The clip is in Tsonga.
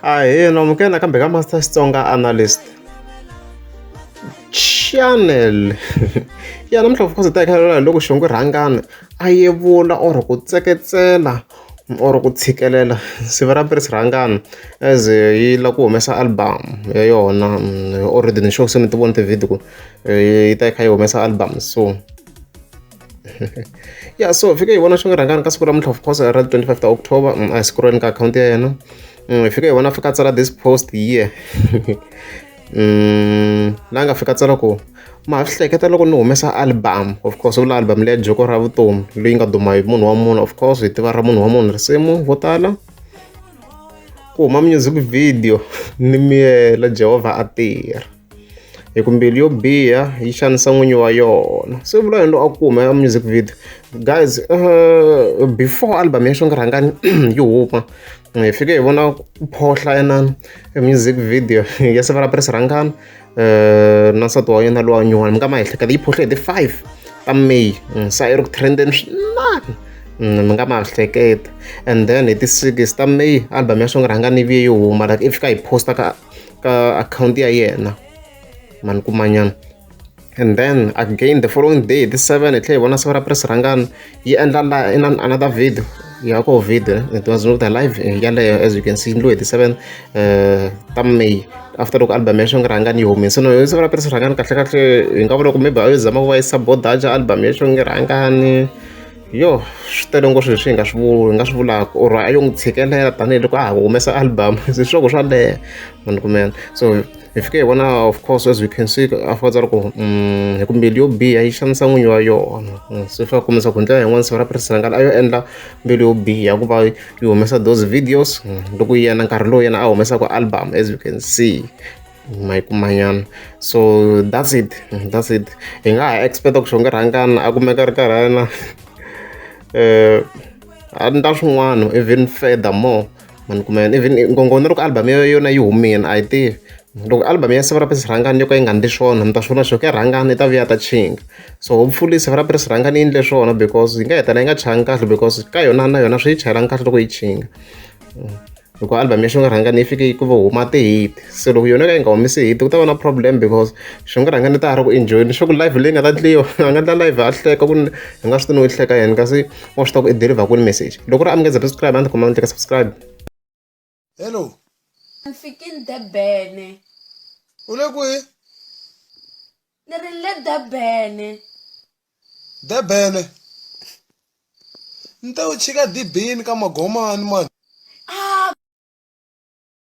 Ahee, amukela nakambe ka Master Xitsonga Analyst channel ya namuntlha of course hi ta hi loko xivongo rhangana a yevula or ku tseketsela or ku tshikelela siva ra Prince Rhangana as yi la ku humesa album ya yona mm, already ni sure se mi ti vona ti-video ku eh, yi ta yi kha yi humesa album so ya yeah, so fike hi vona xirhangani ka siku ra mintlhofu post ra 25 ta october mm, a hi siku ra ni ka akhawunti ya yena hi mm, fike hi vona fika tsala this post here mm, la nga fika tsala ku ma swi hleketa loko ni humesa album of course vula album leya joko ra vutomi leyi nga duma hi munhu wa munhu of course hi tiva ra munhu wa munhu risimu vo tala ku huma music video ni miyela jehovha a tirha hi ku mbilu yo biha yi xanisa n'winyi wa yona se vula yini loyi a ku humela music video guys uh, before album ya xongarhangani yi huma hi fike hi vona ku phohla enani music video ya sevara press rhangani uh, na nsati wa yena lowa nyuwani mi nga ma ehleketa yi phohle hi ti five ta may mm, sa yi ri ku trenden swinani Mm, mi nga ma hleketa and then hi ti-six ta may album ya swongo rhanga ni vuye yi huma like i fika hi posta ka ka akhawunti ya yena mani kumanyana and then again the following day the seven hi tlhela hi vona siku ra press rhangana yi endla la in another video ya ko video it was not the live eh, yaleyo as you can see ndlo hi the seven uh, ta may after loko album ya xonge rhangani yi humese no siku ra press rhangani kahle kahle hi nga vula ku maybe a yo zama ku va yi sabodaja album ya xonge rhangani yo swi tele ngopfu leswi hi nga swi vuli hi nga swi vulaka or a yo n'wi tshikelela tanihiloko a ha humesa album se swiloko swa leha munhu kumela so hi fike hi vona of course as we can see after loko mm, hi kumbe yo biha yi xanisa n'winyi wa yona mm, se fa kumisa ku ndlela yin'wana siva ra presidentala a yo endla mbilu yo biha ku va yi humesa those videos mm, loko yena nkarhi lowu yena a humesaka album as you can see ma yi kuma nyana so that's it that's it hi nga ha expect-a ku xongerhangana a kumeka a ri karhi a ri na um a ni ta swin'wana even further more ma ni kuma yena even ngongoni loko album yo yona yi humile a yi tivi loko album ya siva ra pesi rhangani yo ka yi nga ndli swona mi ta swi vona swo ka rhangani yi ta vuya ta chinga so hopefully siva ra pesi rhangani yi ndle swona because yi nga hetela yi nga changi kahle because ka yona na yona swi yi chayelanga kahle loko yi chinga mm. loko album ya xinkarhangana yi fike yi ku va huma ti-hit se loko yona ka yi nga humisi hit ku ta va na problem because xinkarhangana ta ha ri ku enjoyini swa ku live leyi nga ta ndliwa a nga ndla live a hleka ku ni hi nga swi tini u hleka yena kasi wa swi ta ku i deliver ku ni message loko ri amukeza subscribe a ndzi khoma ndleka subscribe hello ni fikini debene u le kwihi ni ri le debene Durban, Ni ta yo chika dibini ka magomani mani.